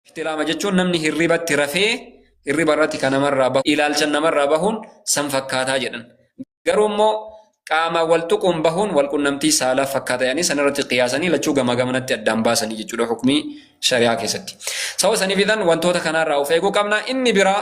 Ixtiraama jechuun namni hirribatti rafee hirriba irratti kan namarraa bahu ilaalchan namarraa bahuun san fakkaataa jedhan. Garuu immoo qaama wal tuquun bahuun wal qunnamtii saalaa fakkaata jedhanii san irratti qiyaasanii lachuu gamaa gamanatti addaan baasanii jechuudha hukmii shari'aa keessatti. Sababa saniif idan wantoota kanaarraa of eeguu qabna. Inni biraa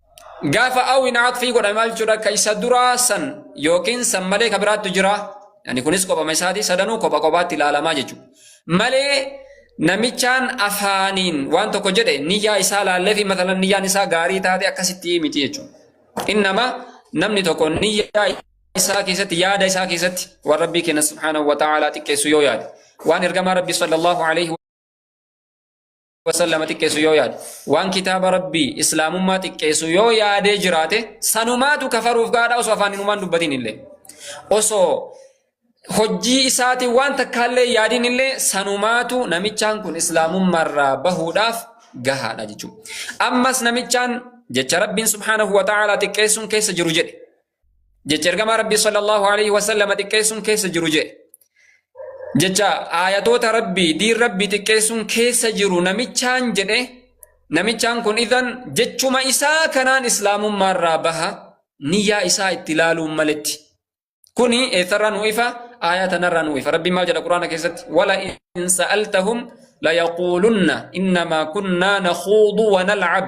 gaafa awin atfii godhame maal jechuudha ka isa duraa san yookiin san malee ka biraattu jira yani kunis kophama isaati sadanuu kopha kophaatti ilaalamaa jechuudha malee namichaan afaaniin waan tokko jedhe niyyaa isaa laallee fi matalan niyyaan isaa gaarii taate akkasitti miti jechuudha innama namni tokko niyyaa isaa keessatti yaada isaa keessatti waan rabbii keenya subhaanahu wa ta'aalaa xiqqeessu yoo yaade waan ergamaa rabbii sallallahu alaihi wasallama xiqqeessu yoo yaade waan kitaaba rabbii islaamummaa xiqqeessu yoo yaadee jiraate sanumaatu kafaruuf gaadha osoo afaan inumaan dubbatiin illee osoo hojii isaatiin waan takkaallee yaadiin illee sanumaatu namichaan kun islaamummaarraa bahuudhaaf gahaadha jechuudha. Ammas namichaan jecha rabbiin subhaanahu wa ta'aalaa xiqqeessuun keessa jiru jedhe. jecha ergamaa rabbii sallallahu alaihi wasallam xiqqeessuun keessa jiru jee jecha aayatoota rabbii diin rabbii xiqqeessuun keessa jiru namichaan jedhe namichaan kun idan jechuma isaa kanaan islaamummaarraa baha niyyaa isaa itti laaluun maletti kuni eessarraa nu ifa aayaa tanarraa nu ifa rabbiin maal jedha quraana keessatti wala in sa'altahum layaquulunna innamaa kunnaa nakhuudu wa nal'ab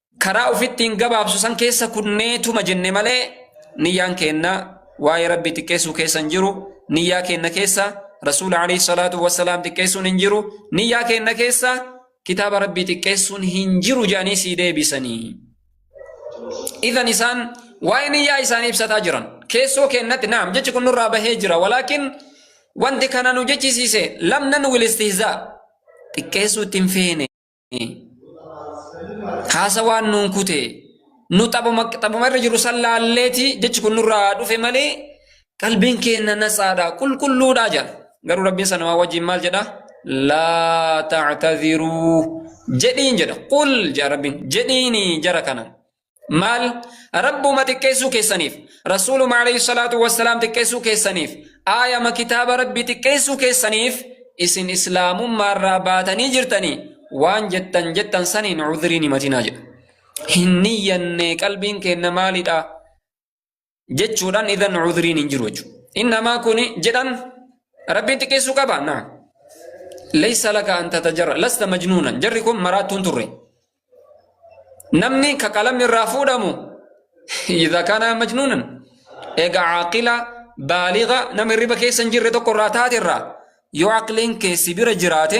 Karaa ufi ittiin gabaabsu san keessa kunneetuma jenne malee niyyaan keenna waa'ee rabbii xiqqeessuu keessa hin jiru niyyaa keenna keessa rasuula alayhi salaatu wassalaam xiqqeessuun hin jiru niyyaa keenna keessa kitaaba rabbii xiqqeessuun hin jiru jedhanii sii deebisanii idan isaan waa'ee niyyaa isaanii ibsataa jiran keessoo keennatti naam jechi kun nurraa bahee jira walaakin wanti kana nu jechisiise lamnan wil istihzaa xiqqeessuu ittiin feene haasa waan nuun kute nu xabuma xabuma irra jiru san laalleeti jechi kun nurraa dhufe malee qalbiin keenya nasaadha qulqulluudha jedha garuu rabbiin sana waa wajjin maal jedha laa tactadhiruu jedhiin jedha qul jedha rabbiin jedhiini jara kana maal rabbuma xiqqeessuu keessaniif rasuuluma alayhi salaatu wassalaam xiqqeessuu keessaniif aayama kitaaba rabbi xiqqeessuu keessaniif isin islaamummaarraa baatanii jirtanii waan jettan jettan saniin cudhriin himatinaa jedha hin niyyanne qalbiin keenna maalidha jechuudhaan idan cudriin hin jiru jechuudha. Innamaa kuni jedhan rabbiin xiqqeessuu qaba naa. Leessa laka an tatajarra lasta majnuunan jarri kun maraattuun turre. Namni ka qalamni irraa fuudhamu idha kana majnuunan egaa caaqila baaliga nama hirriba keessa hin jirre tokko irraa taate irraa yoo aqliin keessi bira jiraate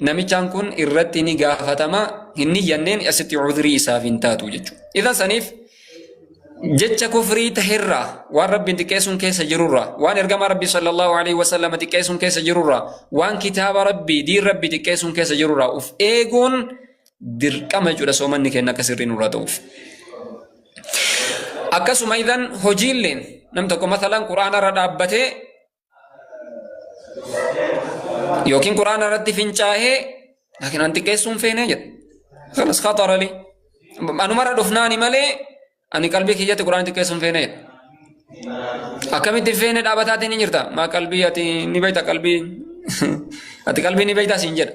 namichaan kun irratti ni gaafatama hin niyyanneen asitti cudrii isaaf hin taatu jechuudha. Idan saniif jecha kufrii taherraa waan rabbiin xiqqeessuun keessa jirurraa waan ergamaa rabbii sallallahu alaihi wasallam xiqqeessuun keessa jirurraa waan kitaaba rabbii diin rabbii xiqqeessuun keessa jirurraa of eeguun dirqama jechuudha soomanni keenya akka sirrii nurraa ta'uuf. Akkasuma idan hojiilleen nam tokko masalan quraanarra dhaabbatee yookiin quraana irratti fincaa'ee laakiin an xiqqeessuu hin feene jedhe kanas khatara li anumarra dhufnaani malee ani qalbii kiyyatti quraana xiqqeessuu hin feene jedhe akkamitti hin feene dhaabataatiin ni jirta maa qalbii ati ni beekta qalbii ati qalbii ni beekta siin jedha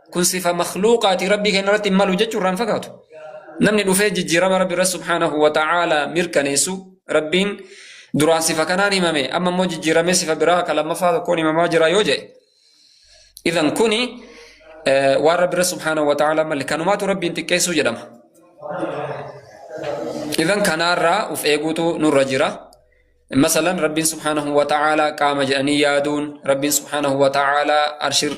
kun sifa makhluuqaati rabbii keenya irratti hin malu jechuu irraan fagaatu namni dhufee jijjiirama rabbi irratti subhaanahu wa ta'aala mirkaneessu rabbiin duraan sifa kanaan himame amma immoo jijjiiramee sifa biraa ka lammaffaa tokkoon himamaa jira yoo jedhe idan kuni waan rabbi irratti subhaanahu wa ta'aala malle kanumaatu rabbiin xiqqeessuu jedhama idan kanaarraa uf eeguutu nurra jira masalan rabbiin subhaanahu wa ta'aala qaama jedhanii yaaduun rabbiin subhaanahu wa ta'aala arshirra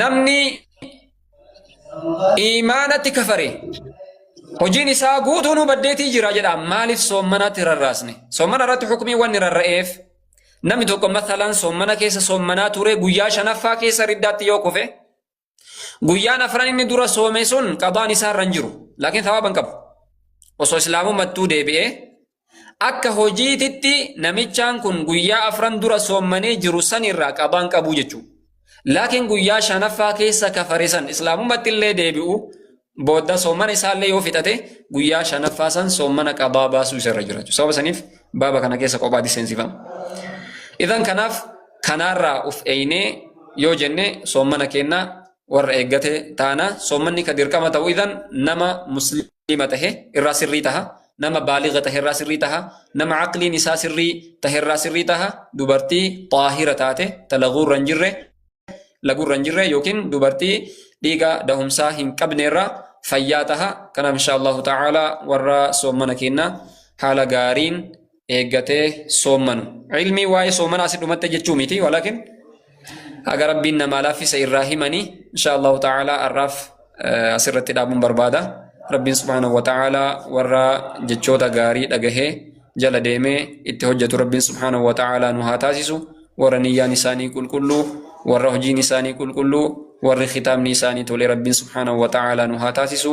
namni iimaanatti kafare hojiin isaa guutuunuu baddeetii jira jedha maaliif soommanatti rarraasne soommana irratti hukumii wanni rarra'eef namni tokko mathalan soommana keessa soommanaa ture guyyaa shanaffaa keessa riddaatti yoo kufe guyyaan afran inni dura soome sun qadaan isaa irra hin jiru laakiin thawaaba hin qabu osoo islaamummattuu deebi'ee Akka hojiititti namichaan kun guyyaa afran dura soommanee jiru san irraa qabaan qabuu jechuu. Laakiin guyyaa shanaffaa keessa kafare san islaamumatti illee deebi'u booda soommana isaallee yoo fixate guyyaa shanaffaa san soommana qabaa baasuu isarra jira jechuudha. Sababa saniif baaba kana keessa qophaatti seensifama. Idan kanaaf kanaarraa of eeynee yoo jenne soommana keenya warra eeggate taana soommanni ka dirqama ta'u idan nama musliima tahe irraa sirrii taha nama baaliga taherraa sirrii taha nama aqliin isaa sirrii taherraa sirrii taha dubartii xaahira taate ta laguurra hin jirre laguurra hin jirre yookiin dubartii dhiiga dahumsaa hin qabneerra fayyaa taha kanaaf insha allahu ta'ala warra soommana keenna haala gaariin eeggatee soommanu. Ilmii waa'ee soomanaa si dhumatte jechuu miti walakin haga rabbiin namaa laaffise irraa himanii insha Allahu ta'ala arraaf asirratti dhaabuun barbaada. Rabbiin subhaanahu wa ta'ala warra jechoota gaarii dhagahee jala deemee itti hojjetu rabbiin subhaanahu wa ta'ala nu haa taasisu warra niyyaan isaanii qulqulluu warra hojiin isaanii qulqulluu warri kitaabni isaanii tole rabbiin subhaanahu wa ta'ala nu haa taasisu.